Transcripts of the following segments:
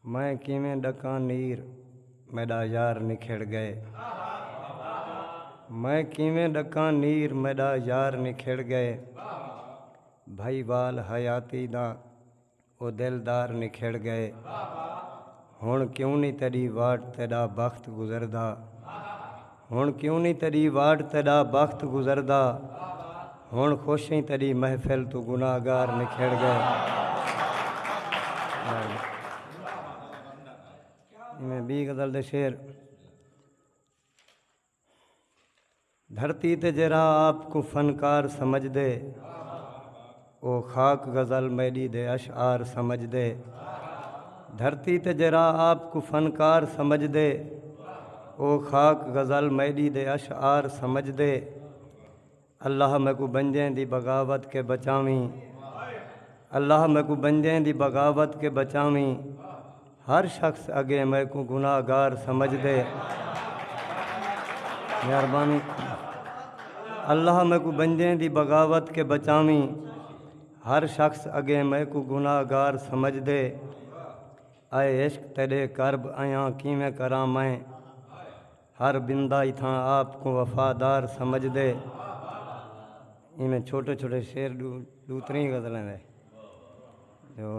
میں کیویں ڈکاں نیر میڈا یار نکھڑ گئے میں کیویں ڈکاں نیر میڈا یار نکھڑ گئے بھائی وال حیاتی دا او دلدار نکھڑ گئے ہݨ کیوں نی تیݙی واٹ تیݙا بخت گزردا ہݨ کیوں نی تیݙی واٹ تیݙا بخت گزردا ہݨ خوش ایں تیݙی محفل توں گناہگار نکھڑ گئے میں بی غزل دے شعر دھرتی تے جیرھا آپ کوں فنکار سمجھدے او خاک غزل میݙی دے اشعار سمجھدے دھرتی تے جیرھا آپ کوں فنکار سمجھدے او خاک غزل میݙی دے اشعار سمجھدے اللہ میکوں بنجیں دی بغاوت کے بچاویں اللہ میکوں بنجیں دی بغاوت کے بچاویں ہر شخص اگے میکوں گناہ گار سمجھ دے مہربانی اللہ میکوں بنجیں دی بغاوت کے بچاویں ہر شخص اگے میکوں گناہ گار سمجھ دے اے عشق تیڈے کرب ایاں کیویں کراں میں ہر بندہ اتھاں آپ کوں وفادار سمجھدے۔ ایویں چھوٹے چھوٹے شعر ݙو تریں غزلاں دے جو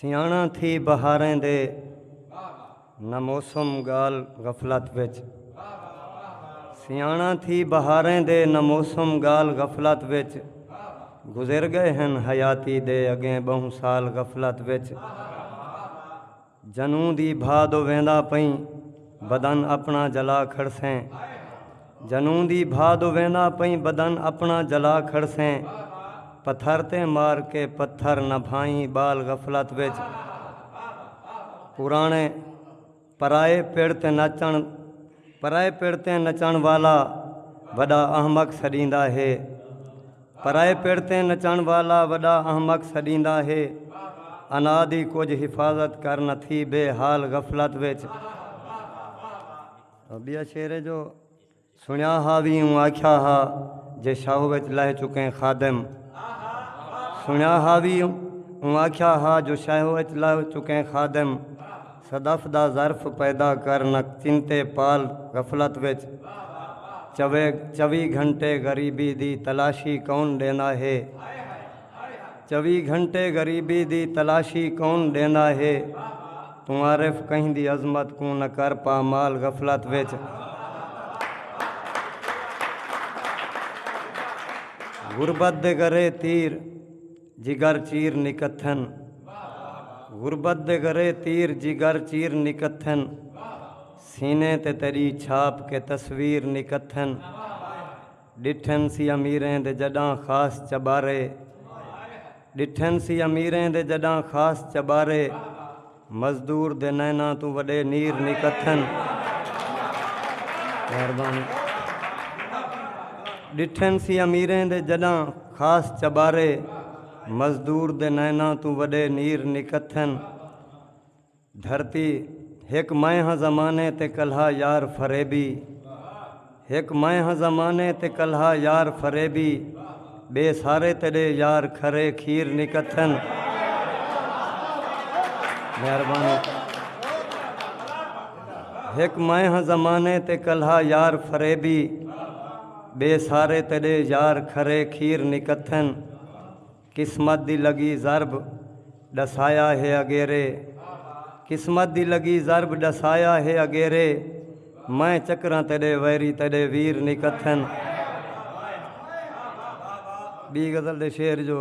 سیاݨاں تھی بہاریں دے نہ موسم ڳال غفلت وچ سیاݨاں تھی بہاریں دے نہ موسم ڳال غفلت وچ گزر ڳئے ہن حیاتی دے اڳیں ٻہوں سال غفلت وچ جنوں دی بھا دو ویندا پئیں بدن اپݨا جلا کھڑسیں جنوں دی بھا دو ویندا پئیں بدن اپݨا جلا کھڑسیں پتھر تے مار کے پتھر نہ بھائیں ٻال غفلت وچ پراݨے پرائے پڑ تے نچݨ پرائے پڑ تے نچݨ والا وݙا احمق سݙیندا ہے۔ پرائے پڑ تیں نچݨ والا وݙا احمق سݙیندا ہے۔ انا دی کجھ حفاظت کر نہ تھی بے حال غفلت وچ۔ ٻیا شعر ہے جو سݨیا ہا وی اوں آکھیا ہا جے شاہو وچ لہہ چکیں خادم۔ سݨیا ہا وی اوں آکھیا ہا جو شاہو وچ لہہ چکیں خادم۔ صدف دا ظرف پیدا کر نک چنتے پال غفلت وچ چوے چوی گھنٹے غریبی دی تلاشی کون ڈیندا ہے چوی گھنٹے غریبی دی تلاشی کون ڈیندا ہے توں عارف کہیں دی عظمت کوں نہ کر پامال غفلت وچ غربت دے گرے تیر جگر چیر نکتھن غربت دے گرے تیر جگر چیر نکتھن سینے تے تیڈی چھاپ کے تصویر نکتھن ڈٹھن سی امیریں دے جڈاں خاص چبارے ڈٹھن سی امیریں دے جڈاں خاص چبارے۔ مزدور دے نیناں توں وڈے نیر نی کتھن۔ مہربانی۔ ڈٹھن سی امیریں دے جڈاں خاص چبارے مزدور دے نیناں توں وڈے نیر نی کتھن۔ دھرتی ہک میں ہاں زمانے تے کلہا یار فریبی۔ ہک میں ہاں زمانے تے کلہا یار فریبی ٻئے سارے تیݙے یار کھرے کھیر نکتھن مہربانی ہک میں ہاں زمانے تے کلہا یار فریبی ٻئے سارے تیݙے یار کھرے کھیر نکتھن قسمت دی لگی ضرب ڈسایا ہے اگیرے قسمت دی لگی ضرب ڈسایا ہے اگیرے میں چکراں تیڈے ویری تیڈے ویر نی کتھن ڈی غزل دے شعر جو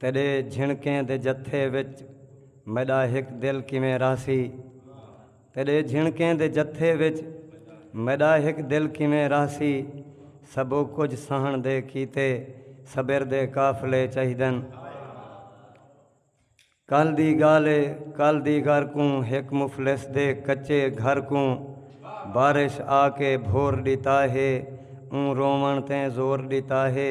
تیݙے جھنکیں دے جتھے وچ میݙا ہک دل کیویں رہسی تیݙے جھنکیں دے جتھے وچ میݙا ہک دل کیویں رہسی سبھو کجھ سہݨ دے کیتے صبر دے قافلے چاہیدن کل دی ڳالھ اے کل دی ڳر کوں ہک مفلس دے کچے گھر کوں بارش آ کے بھور ݙتا ہے اوں رووݨ تیں زور ݙتا ہے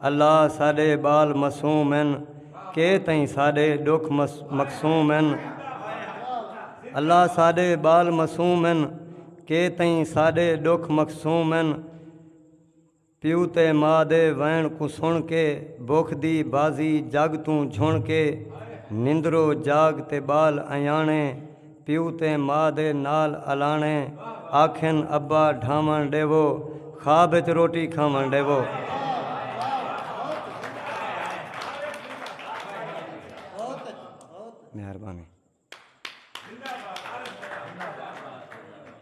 اللہ ساڈے بال معصوم ہن کے تئیں ساڈے ڈکھ مقسوم ہن اللہ ساڈے بال معصوم ہن کے تئیں ساڈے ڈکھ مقسوم ہن پیو تے ماء دے وین کوں سن کے بکھ دی بازی جگ توں جھن کے نندرو جاگ تے بال ایانے پیو تے ماء دے نال الاݨے آکھن ابا ڈھاوݨ ݙیوو خواب اچ روٹی کھاوݨ ݙیوو۔ مہربانی۔